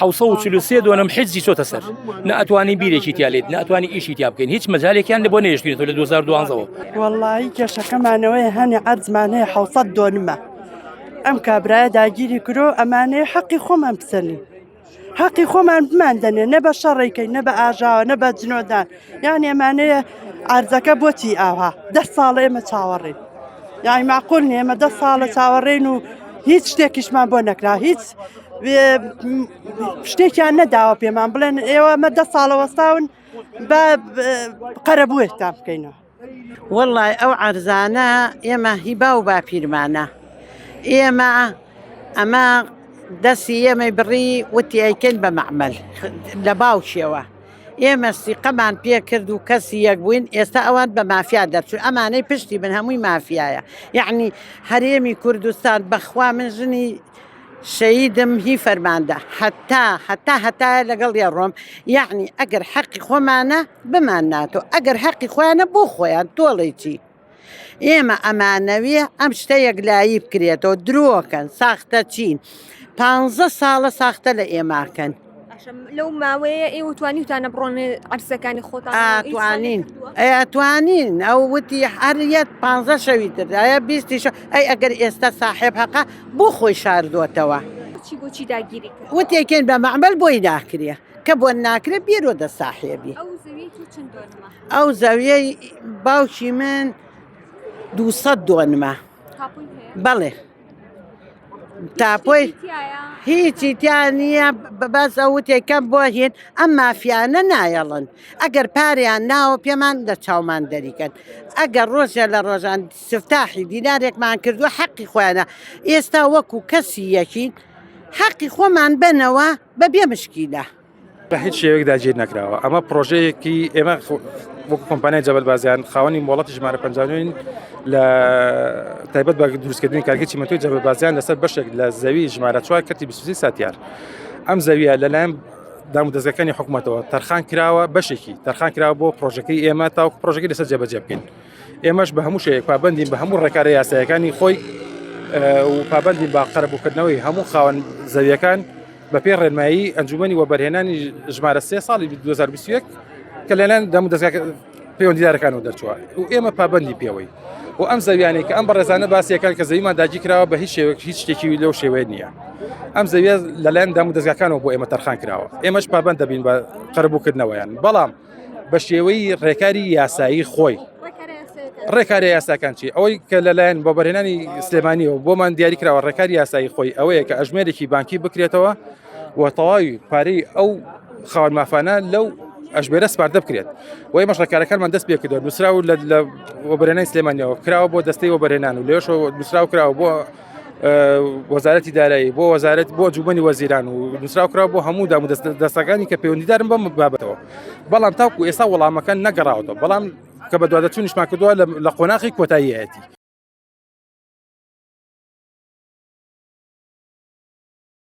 حوسە و چلو سێ دۆنم حیزی چۆتە سەر نە ئەتوانی بیرێکی تیاێت نە ئەتوانی ئیشی تیا بکەین هیچ مەجارێکیان لە بۆ نێشتێت لە 2012ەوە وەڵی کێشەکەمانەوەی هەنێ ئەرزمان هەیە حوسە دۆنمە ئەم کابراە داگیری کرۆ ئەمانەیە حەقی خۆمان بسەنی حەقی خۆمان بمان دەنێ نە بە شەڕێکەکەی نە بە ئاژاوە نە بە جنۆدان یان ئێمانەیە ئارزەکە بۆچی ئاها دە ساڵە ئێمە چاوەڕێن یاعی معقول نێمە دە ساڵە چاوەڕێن و هیچ شتێکیشمان بۆ نەکرا هیچ شتێکیان نەداوە پێمان بڵێن ئێوە مە دە ساڵەوەستاون بە قەرەبووێکتان بکەینەوە وەڵای ئەو عەرزانە ئێمە هی با و باپیرمانە ئێمە ئەمە دەستی ئێمەی بڕی وتی ئەیکەین بە مەعمل لە باوکیەوە ئێمە سیقەمان پێ کرد و کەسی یەک بووین ئێستا ئەوان بە مافیا دەرچوو ئەمانەی پشتی من هەمووی مافیایە یعنی هەرێمی کوردستان بەخوا من ژنی شەهیدم هی فەرماندە هەتا هەتا هەتایە لەگەڵی ئەڕۆم یەعنی ئەگەر حەقی خۆمانە بمان ناتۆ ئەگەر حەقی خۆیانە بۆ خۆیان تۆڵی چی ئێمە ئەمانەویە ئەم شتە یەکلایی بکرێتەوە درۆکەن ساختە چین پانزە ساڵە ساختە لە ئێماکەن لەو ماوەیە ئێوە توانیتانە بڕۆن عرسەکانی خۆتان توانین توانین ئەو وتی هەریەت پ شەوی تردایە بیستیش ئەی ئەگەر ئێستا ساحێب حەقا بۆ خۆی شاردوەتەوە وتێکێن بە مەعمل بۆی ناکرێ کە بۆ ناکرێت بیرۆ دە ساحێبی ئەو زەویەی باوکی من دوو دۆنمە بەڵێ. تاپۆی تایە هیچی تیا نییە بە- بەس ئەو وتێکەم بۆ هێن ئەم مافیانە نایەڵن ئەگەر پاریان ناوە پێمان لە چاومان دەریکەن ئەگەر ڕۆژێ لە ڕۆژان سفتاحی دینارێکمان کردووە حەقی خۆیانە ئێستا وەکو کەسی یەکین حەقی خۆمان بەنەوە بە بێ مشکیلە. بە هیچ شێوەیەک داگیر نەکراوە ئەمە پرۆژەیەکی ئێمە وەک کۆمپانای جەبەل بازیان خاوەنی مۆڵەتی ژمارە پنجین لە تایبەت بە دروستکردنی کارگەی چیمەتۆی جەبەل بازیان لەسەر بەشێک لە زەوی ژمارە چوار کەتی بسوزی ساتیار ئەم زەویە لەلایەن دام و دەستەکانی حکوومەتەوە تەرخان کراوە بەشێکی تەرخان کراوە بۆ پرۆژەکەی ئێمە تاوکو پرۆژەکەی لەسەر جێبەجێ بکەین ئێمەش بە هەموو شێک پابندین بە هەموو ڕێکارە یاسایەکانی خۆی و پابندی با قەرەبووکردنەوەی هەموو خاوەن زەویەکان بە پێ ڕێنمایی ئەنجومی وەبەرهێنانی ژمارە سێ ساڵی 2021 کە لەلایەن دەم دەست پەیوەندیدارەکانەوە دەرچووە و ئێمە پابندی پێوەی و ئەم زەویانەی کە ئەم بەڕێزانە باسیەکان کە زەویمان داگی کراوە بە هیچ شێوەک هیچ شتێکی لەو شێوەیە نییە ئەم زەویە لەلایەن دام و دەستگاکانەوە بۆ ئێمە تەرخان کراوە ئێمەش پابند دەبین بە قەربووکردنەوەیان بەڵام بە شێوەی ڕێکاری یاسایی خۆی ڕێکاری یاساکان چی ئەوەی کە لەلایەن بۆ بەرهێنانی سلێمانیەوە بۆمان دیاری کراوە ڕێکاری یاسایی خۆی ئەوەیە کە ئەژمێرێکی بانکی بکرێتەوە و تەواوی پارەی ئەو خاوەن مافانە لەو ئەشبێرە سپاردە بکرێت و ئێمەش ڕێکارەکانمان دەست پێ کردو نووسرا و لە وەبرێنانی سلێمانیەوە کراوە بۆ دەستەی وەبرێنان و لێش نووسرا و کراوە بۆ وەزارەتی دارایی بۆ وەزارەت بۆ جوبنی وەزیران و نووسراوکرا بۆ هەموو دام دەست دەستەکانی کە پەیوەندیدارن بەم بابەتەوە بەڵام تاکو ئێستا وەڵامەکە نەگەڕاوەتەوە بەڵام کە بە دوادەچوونیشمان کردووە لە قۆناخی کۆتاییەتی